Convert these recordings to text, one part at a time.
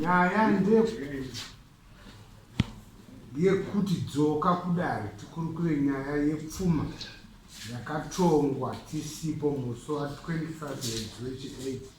nyaya ndeyekuti dzoka kudare tikurukure nyaya yepfuma yakatongwa tisipo musi wa 25 mwedzi wechi 8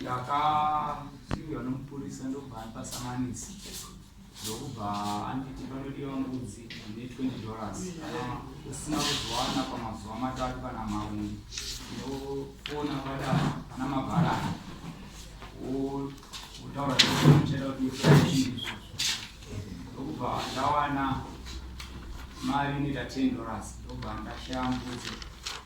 ndakasvikirwa nomupurisa ndobva andipa samanisi ndokubva anditi panodiwa mbudzi ine 20 dollars kana usina kuzowana pamazuva matatu kana mauni ndofona kwada pana mabharani wotaura zvichada kuti ndifaiizvo ndokubva ndawana mari inoita 10 dollars ndobva ndashaya mbudzi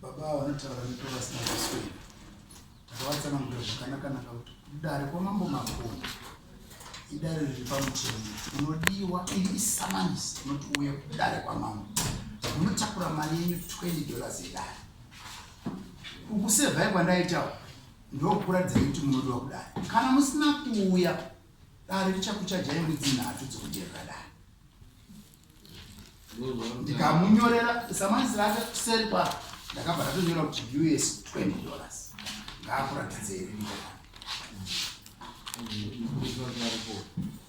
Baba ava vanotaura nepo vasina kuswera. Takavatsanangura zvakanaka-naka kuti kudare kwamambo Makoni idare riri pamutemo unodiwa iri isamanisi unoti uye kudare kwamambo unotakura mari yenyu 20 dollars yedare ukusevhai kwandaitawo ndokuratidza kuti munodiwa kudare kana musina kuuya dare richakuchajai mwedzi nhatu dzokujerera dare ndikamunyorera samanisi rake seri pa ndakabva ndatonyora kuti us 20 dollars ngaakuratidze here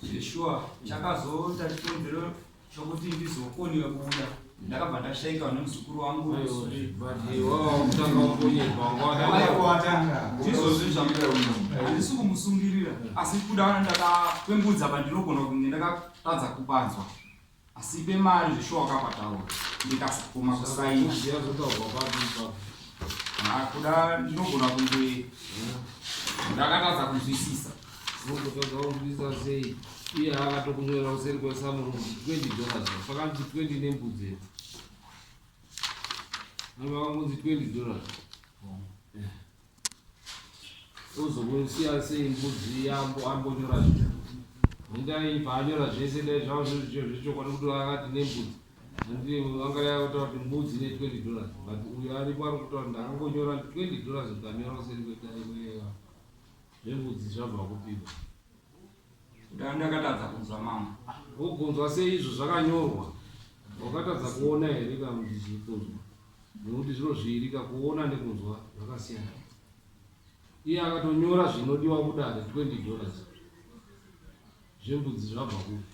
zveshuwa chakazoita chikonzero chokuti ndizokoniwe kuuya ndakabva ndashaika vane muzukuru wangu ndizozvizvamuaisi kumusungirira asi kuda ndakapembudza pandinogona kunge ndaka Tadza kupanzwa. Asi ipe mari zveshuwa wakapataura. Ndikasukuma kusaina. Zviya zvotaurwa papi ipapo. Ah, kuda ndinogona kunge ndakatadza kunzwisisa. Unototadza kunzwisisa sei? Iye akatokunyorera kuseri kwesamuro kuti 20 dollars. Pakanzi 20 nembudzi epo. Nanga vakangonzi 20 dollars. Ozokusiya sei mbudzi yambo ambonyora zvinhu ndai paanyora zvese dai zvava zvechokwadi kuti akati nembudzi andi anga yakutaura kuti mbudzi ne 20 dollars but uyo aripo ari kutaura ndakangonyora 20 dollars ndikanyora kuseri kwetaimweya zvembudzi zvabva kupiwa Ndanga ndakatadza kunzwa mama. Wokunzwa sei izvo zvakanyorwa? Wakatadza kuona here kana kuti zvikunzwa? Nekuti zviro zviiri ka kuona nekunzwa zvakasiyana. Iye akatonyora zvinodiwa kudare 20 dollars zvembudzi zvabva kupi?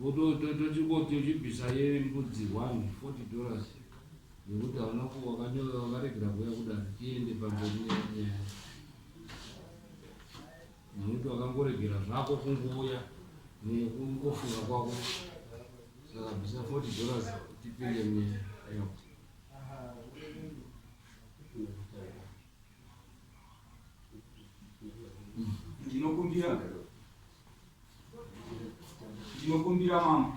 Votochingoti uchibvisa yembudzi one 40 dollars nekuti hauna kuwakanyoya wakaregera kuuya kudare tiende pamberi nenyaya nekuti wakangoregera zvako kungouya nekungofunga kwako saka bvisa 40 dollars tipinde munyaya ndinokumbira Ndinokumbira mama.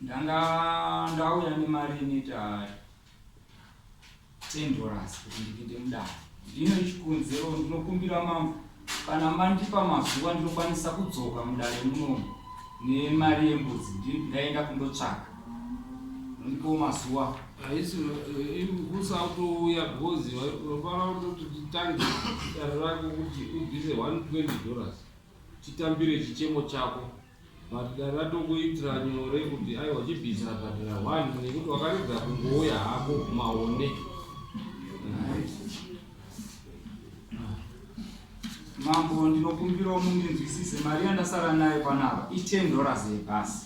Ndanga ndauya nemari inoita 10 dollars kuti ndipinde mudare. Ndino ichikunze ro ndinokumbira mama kana mandipa mazuva ndinokwanisa kudzoka mudare munomu nemari yembudzi ndaenda kundotsvaka. Ndiko mazuwa. Haisi kusatouya because vafana kutoti titange dare rako kuti ubvise 120 dollars chitambire chichemo chako but dare ratokuitira nyore kuti aiwa chibhisi rabhadhara one nekuti wakaridza kungouya hako maone mambo ndinokumbirawo mundinzwisise mari yandasara nayo panapa i 10 dollars yebhasi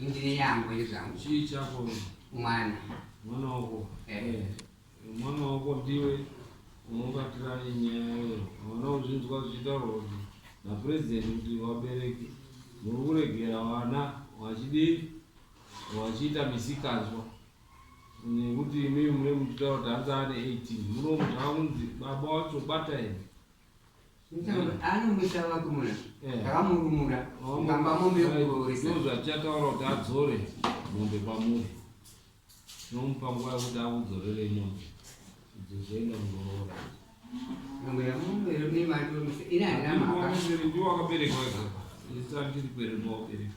Indine yangu ini zvangu. Chii chako? Mwana. Mwana wako. Eh. Mwana wako ndiwe unobatira nyaya iyo. Mwana uzvinzwa zvichitaurwa kuti na president kuti vabereki muri kuregera vana vachidii vachiita misikanzwa nekuti imimi muri muchitaura kuti hanzi ane 18 munomuti akunzi baba wacho bata imi anomuita vakuruna takamurumura ngamba mombe yokurooresa zvatichataura kuti adzore mombe kwamuri tinomupa nguva yokuti akudzorere mombe idzo zvoenda kundoroora ndiwo akaberekwa ega isandiri kweremuwabereka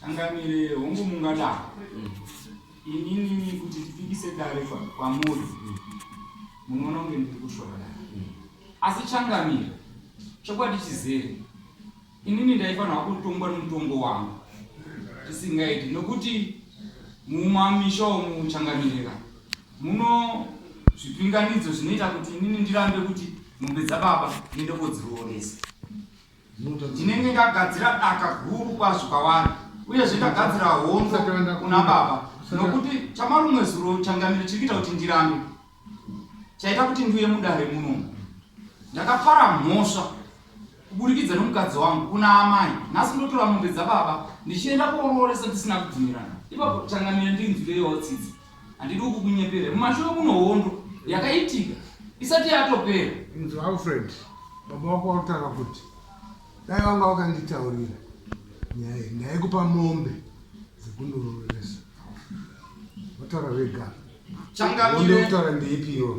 Changamire, hongu mungada inini kuti tipikise dare kwamuri munoona kunge ndiri kushora dare asi changamire chokwadi chizere inini ndaifanirwa kutongwa nemutongo wangu tisingaiti nokuti mumamisha omu changamirira muno zvipinganidzo zvinoita kuti inini ndirambe kuti mombe dzababa ndiende kodzirooresa Ndinenge ndagadzira daka guru kwazvo kwavari, uyezve ndagadzira hondo kuna baba, nokuti chamarumwe zuro changamire chiri kuita kuti ndirambe, chaita kuti ndiuye mudare muno. Ndakapara mhosva kuburikidza nomukadzi wangu kuna amai, nhasi ndotora mombe dzababa ndichienda koorooresa ndisina kubvumirana. Ipapo changamire ndinzwireiwo tsitsi. Handidi kukunyepera. Mumashure kuno hondo yakaitika isati yatopera. Inzwa Alfred, baba wako vakutaura kuti dai vanga vakanditaurira nyaya iyi ndaikupa mombe dzekundoroveresa. Vataura vega. Changamire. Vataura ndeipi iwo.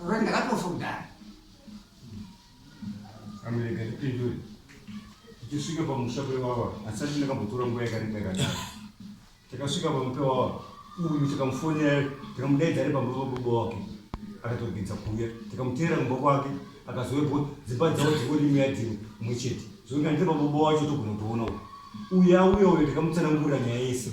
Alright, ndakatofa kudhara. Amereka ndipindure. Tichisvika pamusha pewawa, asati ndakambotora nguva yakareba yakadaro. Takasvika pamwe pewawa, uyu tikamufonera, tikamudaidza ari pamwe pababa wake. Akatogidza kuuya, tikamuteera kumba kwake, akazovepo dzimba dzavo dzingori imwe yadzimwe imwe chete. Zvokuti handiri pababa wacho togona kutoona uyu. Uyu auya uyo tikamutsanangurira nyaya yese.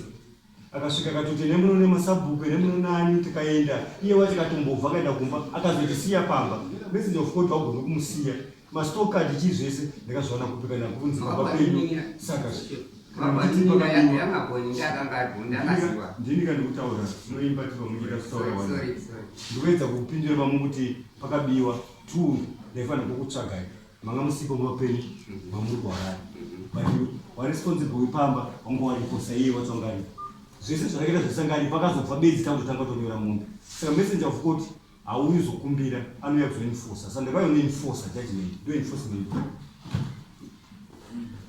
akasvika akatoti ene muno nemasabhuku ene muno nani tikaenda iye wacho akatombobva akaenda kumba akazotisiya pamba message of court wagona kumusiya mastock card chii zvese ndakazviwana kupika nakunzi baba kwenyu saka ndini kandikutaura munoimba ti vamunyika kutaura wa ndikuedza kupindura vamu kuti pakabiwa two ndaifanira kukutsvagai manga musipo muvapenyu vamuri kuharari but wa responsible wepamba wanga waripo saiye watsongani zvese zvakaita zvesangani pakazobva bedzi takutotanga tonyora mombe saka messenger of court hauyi zokumbira anouya kuzoinfosa sandakayona infosa judgment ndo enforcement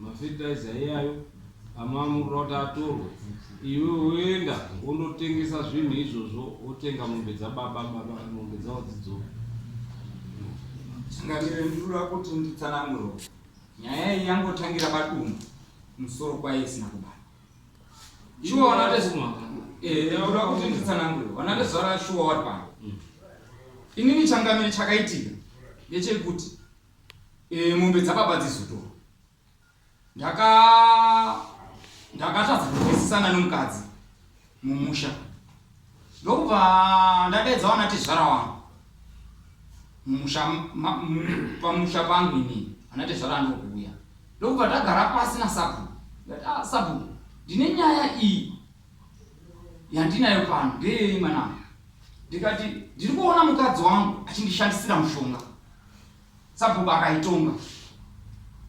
mafertilizer iyayo amamurira kuti atorwe iwe woenda wondotengesa zvinhu izvozvo wotenga mombe dzababa baba mombe dzavo dzidzoka chingamire ndinoda kuti nditsananguro nyaya iyi yangotangira padumbu musoro kwaye isina kubata Shuwa wanate zimwa. Eh, ndinoda kuti nditsanangure. Wanate zvara shuwa wari pano. Mm. Inini changamire chakaitika ndechekuti eh, mombe dzababa dzizotorwa. Ndaka ndakatadza kunzwisisana nomukadzi mumusha. ndokubva ndadaidza wana tezvara wangu pamusha pangu ini ana tezvara anokuuya ndokubva ndagara pasi nasabhuku ndati ah, sabhuku ndine nyaya iyi yandinayo pano ndeyei mwanangu ndikati ndiri kuona mukadzi wangu achindishandisira mushonga Sabhuku akaitonga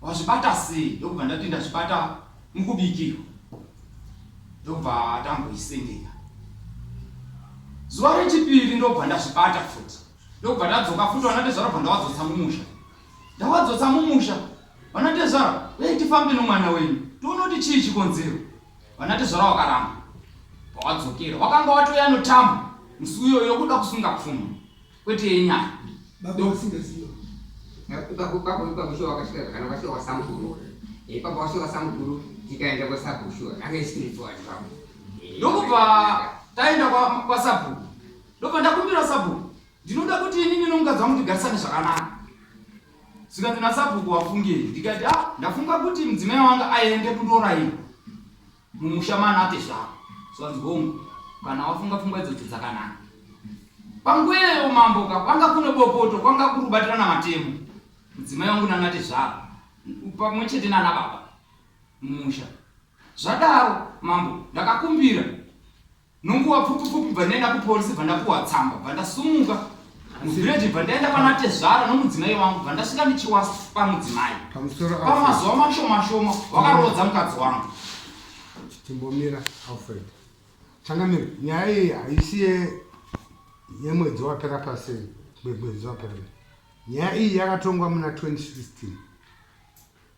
wazvibata sei ndokubva ndati ndazvibata mukubikirwa ndobva tamboisendera zuva rechipiri ndobva ndazvibata futi ndokubva ndadzoka futi vanatezvara bva ndawadzotsa mumusha ndawadzotsa mumusha vanatezvara uye tifambe nomwana wenyu tione kuti chii chikonzero vanatezvara wakaramba pawadzokera wakanga watoya notambo musi uyoyo yokuda kusunga pfuma Kwete yenyama. Baba vasingaziva. Ipapo ipapo ipapo shuwa wakasvika zvakanaka wasvika kwasamukuru. Ipapo wasvika kwasamukuru tikaenda kwasabhuku shuwa anga isikuitwa ipapo. Ndokubva taenda kwasabhuku. Ndobva ndakumbira sabhuku ndinoda kuti inini nomukadzi wangu tigarisane zvakanaka zvikanzi nasabhuku wafungei ndikati a ah, ndafunga kuti mudzimai wanga aende kundoraiwa Mumusha manake zvako. Zvanzi hongu. Kana wafunga pfungwa idzodzo dzakanaka. Pangweyo mambo ka kwanga kune bopoto kwanga kuri kubatirana matemo. Mudzimai wangu nanate zvako. Pamwe chete nana baba. Mumusha. Zvadaro mambo ndakakumbira. Nonguva pfupi pfupi bva ndaenda kupolisi bva ndapuwa tsamba bva ndasumuka muvhireji bva ndaenda pana tezvara nomudzimai wangu bva ndasvika ndichiwa pamudzimai pamazuva mashoma shoma wakaroodza mukadzi wangu timbomira alfred changamira nyaya iyi haisi yemwedzi wapera pasi mwedzi wapera nyaya iyi yakatongwa muna 2016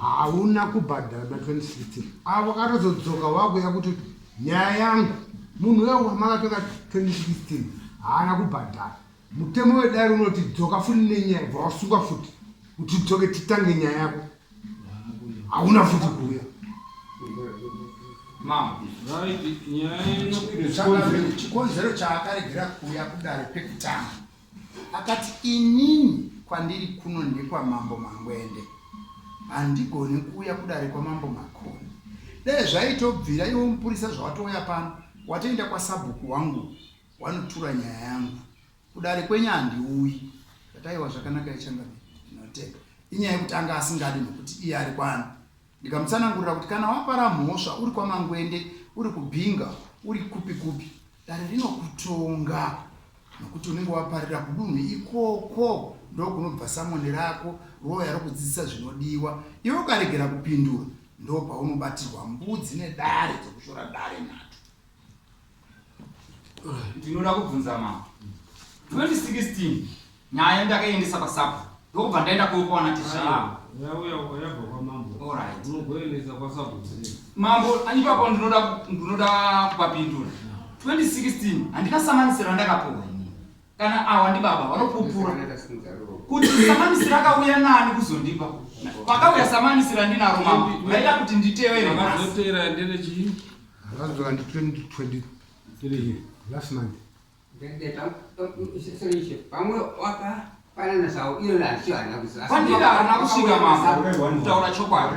hauna kubhadhara na 2016 avo katozodzoka wakuya kuti nyaya yangu munhu uya wamakatora 2016 haana kubhadhara mutemo wedare unoti dzoka futi nenyaya bva wasungwa futi kuti dzoke titange nyaya yako hauna futi kuuya chikonzero chaakaregera kuuya kudare pekutanga Akati, Inini kwandiri kuno ndekwaMambo Mangwende. Handigoni kuuya kudare kwaMambo Makoni. Dai zvaitobvira iwe mupurisa zvawatouya pano, watoenda kwasabhuku wangu wanotura nyaya yangu. Kudare kwenyu handiuyi. Ndati, Aiwa zvakanaka, Echangamire, ndinotenda. Inyaya yekuti anga asingadi nokuti iye ari kwani, Ndikamutsanangurira kuti kana wapara mhosva uri kwaMangwende, uri kuBinga, uri kupi kupi, dare rinokutonga nokuti unenge waparira kudunhu ikoko ndokunobva samoni rako roya rokudzidzisa zvinodiwa iwe ukaregera kupindura ndopaunobatirwa mbudzi nedare dzokushora dare nato ndinoda kubvunza mama 2016 nyaya yandakaendesa pasabha ndokubva ndaenda kuopaona tishaa mambo ipapo ndinoda kupapindura 2016 handina samanisiro andakapuwa ini kana awa ndibaba vanopupura kuti samanisira akauya nani kuzondipa pakauya samanisira ndinaro mambo vaida kuti nditevere vazotera ndere chii vazoka ndi 2023 last month pamwe waka pandira hana kusvika mambo kutaura chokwadi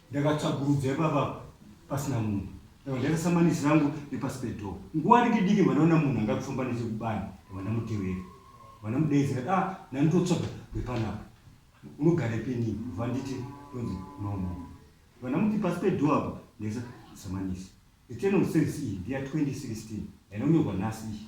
Ndakatsvagurudza ipapa pasina munhu. Ndakabva ndaisa samanisi rangu nepasi pedoor. Nguva diki diki ndibva ndaona munhu anga kufamba nechekubani ndibva ndamutevera. Ndibva ndamudeedza ndati ah nani ndotsvaga wepanapa. Unogare pini? Ndibva nditi ndonzi no no. Ndibva ndamuti pasi pedoor apa ndaisa samanisi. Return of service iyi ndeya 2016 yainonyorwa nhasi iyi.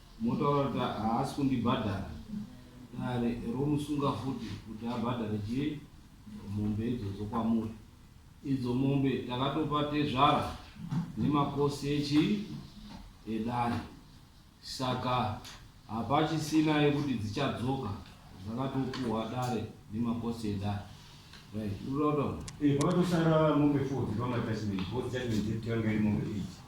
Motaura kuti haasi kundibhadhara dare romusunga futi kuti abhadhare chii mombe idzodzo kwamuri idzo mombe takatopa tezvara nemakosi echii edare saka hapachisina yekuti dzichadzoka dzakatopuhwa dare nemakosi edare right unotaura Eh, pakatosara mombe 4 dzibva matasmeni, both judgment dzekutanga iri mombe 8.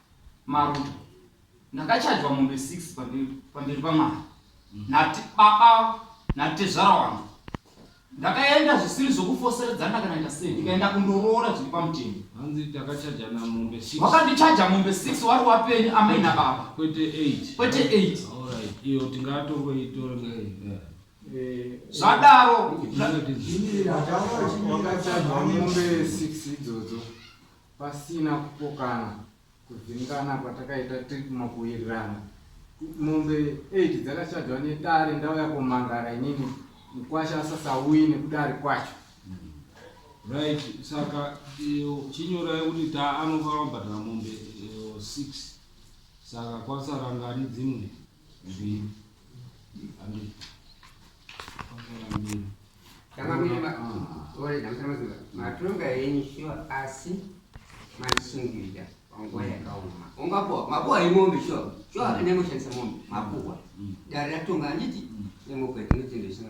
Maruto. Ndakachajwa mombe six pamberi pamberi paMwari nati baba natezvara wangu. Ndakaenda zvisiri zvokufoseredzana kana ita sei ndikaenda kundoroora zviri pamutemo. Hanzi takachajana mombe six. Wakandichaja mombe six wari wapeni amai nababa Kwete eight. kwete eight. Alright. Iyo tingatongoitora nei. Eh. Zvadaro Zvinotizi- Ndakachajwa mombe six idzodzo. Pasina kupokana, kuvhiringana kwatakaita tiri kumakuwirirana, mombe eight dzakashajwa nedare ndauya komangara inini mukwasha asasauyi nekuti ari kwacho. Right, saka iyo chinyora yekuti ta anobva abhadhara mombe eh, six saka kwasara ngani dzimwe matonga yenyu shuwa asi maisungirira panguva yakaoma ungapuwa mapuwa yemombe shuwa shuwa mm. nemoshandisa mombe mapuwa mm. dare ratonga anditi mm. nemokwe tinotendesina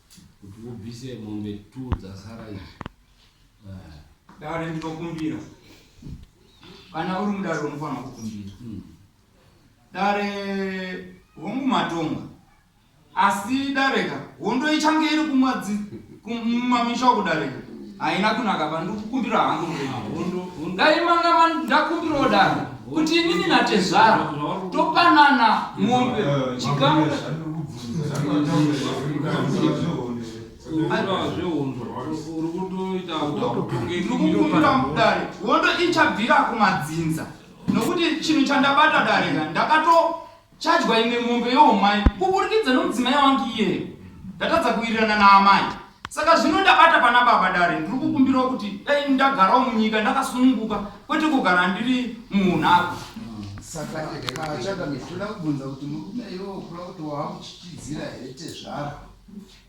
kuti ubvise mombe two dzasara izvi ah. dare ndinokumbira kana uri mudare unofanira kukumbira hmm. dare hongu matonga asi dareka hondo ichange iri kumwadzimamisha kudareka haina kunaka ba ndikukumbira hangu murema dai manga ndakumbirawo daro kuti inini natezvara topanana mombe chikamu ndikukumbira mudare hondo ichabvira kumadzinza nokuti chinhu chandabata dare ka ndakato Chadya imwe mombe youmai kuburikidza nomudzimai wangu iyeyo. Ndatadza kuwirirana naamai. Saka zvino ndabata pana baba dare ndiri kukumbirawo kuti dai ndagarawo munyika ndakasununguka kwete kugara ndiri muunhako. Saka achada mitoda kubvunza kuti murume iwo kula kuti waamuchichidzira here tezvara.